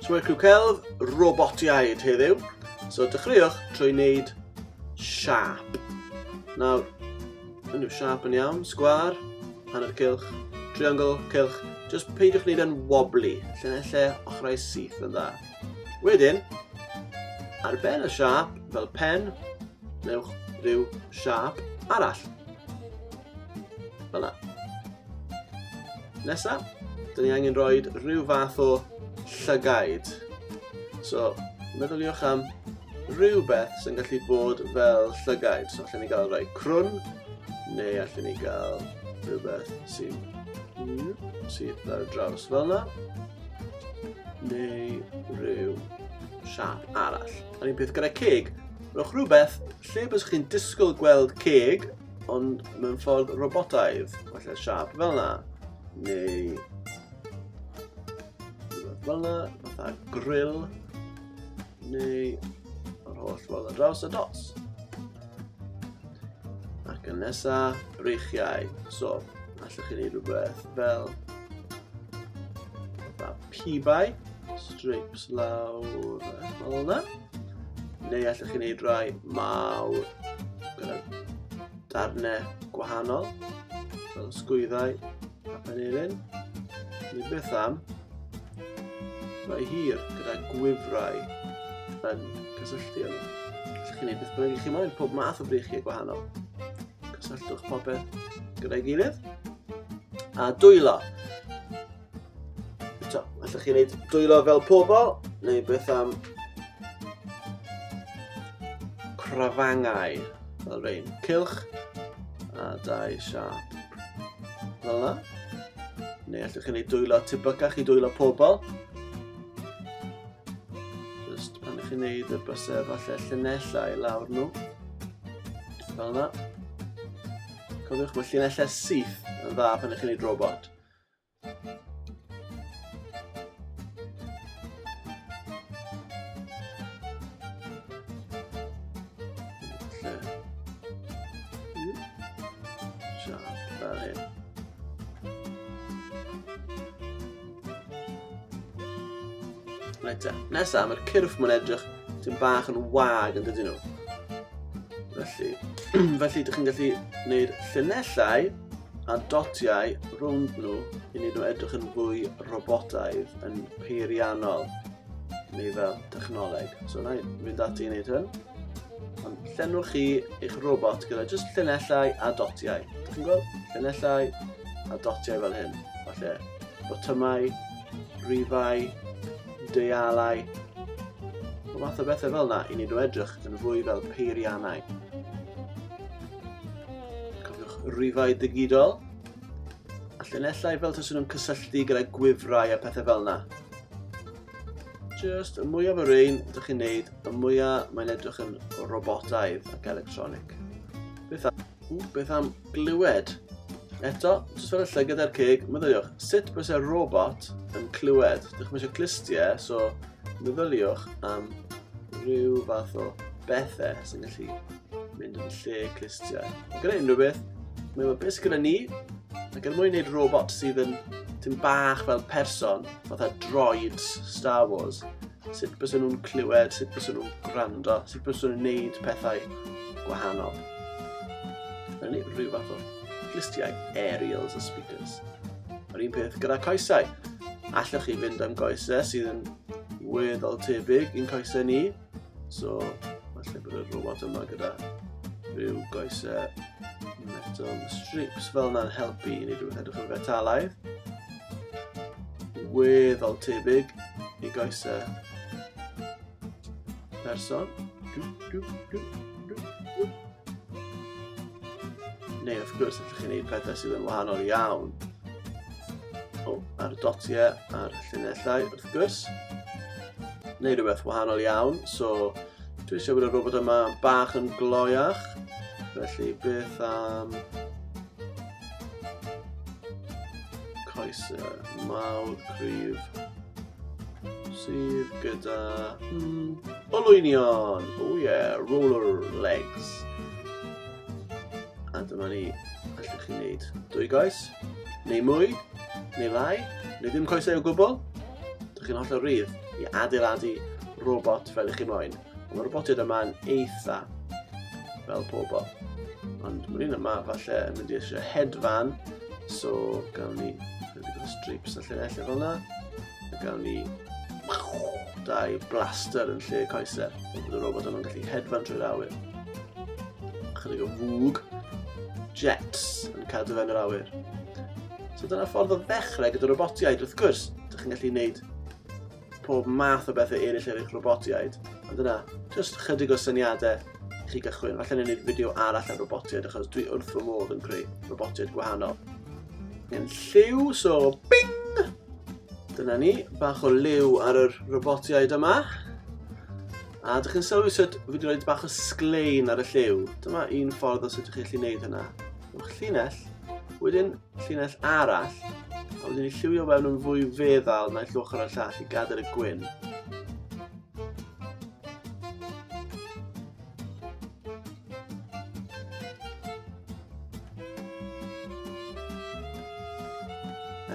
So mae crw celf robotiaid heddiw. So dechreuwch trwy wneud siap. Nawr, yn yw siap yn iawn, sgwar, hanner cilch, triangle, cilch. Just peidiwch wneud yn wobbly, lle na lle ochrau syth yn dda. Wedyn, ar ben y siap, fel pen, Newch rhyw siap arall. Fela. Nesa, dyn ni angen rhoi rhyw fath o llygaid. So, meddyliwch am rhywbeth sy'n gallu bod fel llygaid. So, allan ni gael rhoi crwn, neu allan ni gael rhywbeth sy'n sydd ar draws fel yna, neu rhyw siap arall. A'r un peth gyda ceg, Rhowch rhywbeth lle bys chi'n disgwyl gweld ceg, ond mewn ffordd robotaidd, falle siap fel yna, neu fel yna, fatha grill, neu yr holl ffordd ar draws y dots. Ac yn nesa, breichiau. So, allwch chi wneud rhywbeth fel fatha pibau, strips lawr fel yna. Neu allwch chi wneud rai mawr gyda darnau gwahanol, fel sgwyddau a panelin. Neu beth am rai hir gyda gwifrau yn cysylltu yma. Allwch chi wneud beth bynnag i chi moyn, pob math o breichiau gwahanol. Cysylltwch popeth gyda'i gilydd. A dwylo. So, allwch chi wneud dwylo fel pobl, neu beth am crafangau fel rhain. Cilch a dau siap. Fel yna. Neu allwch chi wneud dwylo tebycach i dwylo pobl. Just pan ych chi'n wneud y bysau falle llunellau i lawr nhw. Fel yna. Cofiwch mae llunellau syth yn dda pan ych chi'n wneud robot. Reit te. Nesa, mae'r cyrff mwyn edrych sy'n bach yn wag yn dydyn nhw. Felly, felly ydych chi'n gallu gwneud llunellau a dotiau rhwng nhw i wneud nhw edrych yn fwy robotaidd, yn peiriannol, neu fel technoleg. So na i fynd ati i wneud hyn. Ond llenwch chi eich robot gyda jyst llinellau a dotiau. Dych chi'n gweld? Llinellau a dotiau fel hyn. Falle botymau, rifau, deialau, o fath o bethau fel yna i wneud nhw edrych yn fwy fel peiriannau. Cofiwch rifau digidol. A llunellau fel taswn nhw'n cysylltu gyda gwifrau a pethau fel yna. Just y mwyaf o rein ydych chi'n neud, y mwyaf mae'n edrych yn robotaidd ac electronic. Beth am, ww, beth am glywed? Eto, jyst fel y lle gyda'r ceg, meddyliwch, sut bys y robot yn clywed? Dych chi'n eisiau clustiau, e, so meddyliwch am rhyw fath o bethau sy'n gallu mynd yn lle clustiau. Gyda unrhyw beth, mae yma beth gyda ni, ac er mwyn gwneud robot sydd yn tyn bach fel person, fatha droids Star Wars, sut bys nhw'n clywed, sut bys nhw'n gwrando, sut bys nhw'n gwneud pethau gwahanol. Rydyn ni rhyw fath o glustiau aerials a speakers. Yr un peth gyda coesau. Allwch chi fynd am goesau sydd yn weddol tebyg i'n coesau ni, So, falle bod y robot yma gyda rhyw goesau metal strips fel yna'n helpu i ni rhywbeth edrych yn fetalaidd. Weddol tebyg i goesau person. Dw, dw, dw, dw, dw. Neu wrth gwrs, allwch chi wneud pethau sydd yn wahanol iawn. O, ar y dotiau a'r llunellau, wrth gwrs. Neu rhywbeth wahanol iawn, so dwi eisiau bod y robot yma bach yn gloiach. Felly beth am... Coesau mawr cryf sydd gyda mm, olwynion. Oh yeah, roller legs. A dyma ni, allwch chi wneud dwy goes, neu mwy, neu lai, neu ddim coesau o gwbl. Dych chi'n holl o rydd i adeiladu robot fel ych chi moyn. Mae'r robotiad yma'n eitha fel pobl. Ond mae'r un yma falle yn mynd i eisiau hedfan, so gawn ni ychydig o strips a llinellau fel yna. A gawn ni dau blaster yn lle coesau. Bydd y robot yma'n gallu hedfan trwy'r awyr. Chydig o fwg, jets yn cadw fe'n yr awyr. So dyna ffordd o ddechrau gyda robotiaid, wrth gwrs, ydych chi'n gallu gwneud pob math o bethau eraill ar eich robotiaid. Ond yna, jyst chydig o syniadau i chi gychwyn. Falle ni'n gwneud fideo arall ar robotiaid achos dwi wrth fy modd yn creu robotiaid gwahanol. Yn lliw, so bing! Dyna ni, bach o liw ar yr robotiaid yma. A dych chi'n sylwi sut fi wedi rhoi bach o sglein ar y lliw. Dyma un ffordd o sut ydych chi'n gallu gwneud hynna. Yw'ch llinell, wedyn Llinell arall, a wedyn ni lliwio fewn yn fwy feddal naill ochr y llall i gadael y gwyn.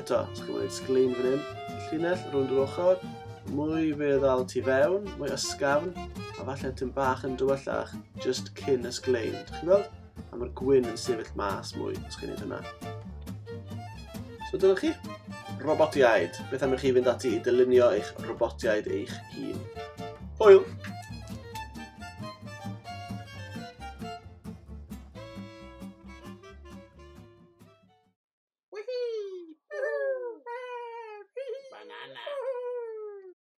Eto, os chi'n gwneud sglein fan hyn, llinell rhwng yr ochr, mwy feddal tu fewn, mwy ysgafn, a falle tyn bach yn dywyllach, just cyn ysglein. Chi'n gweld? A mae'r gwyn yn sefyll mas mwy os chi'n neud hynna. So dyna chi. Robotiaid. Beth am i chi fynd ati i dylunio eich robotiaid eich hun? Hwyl! Banana.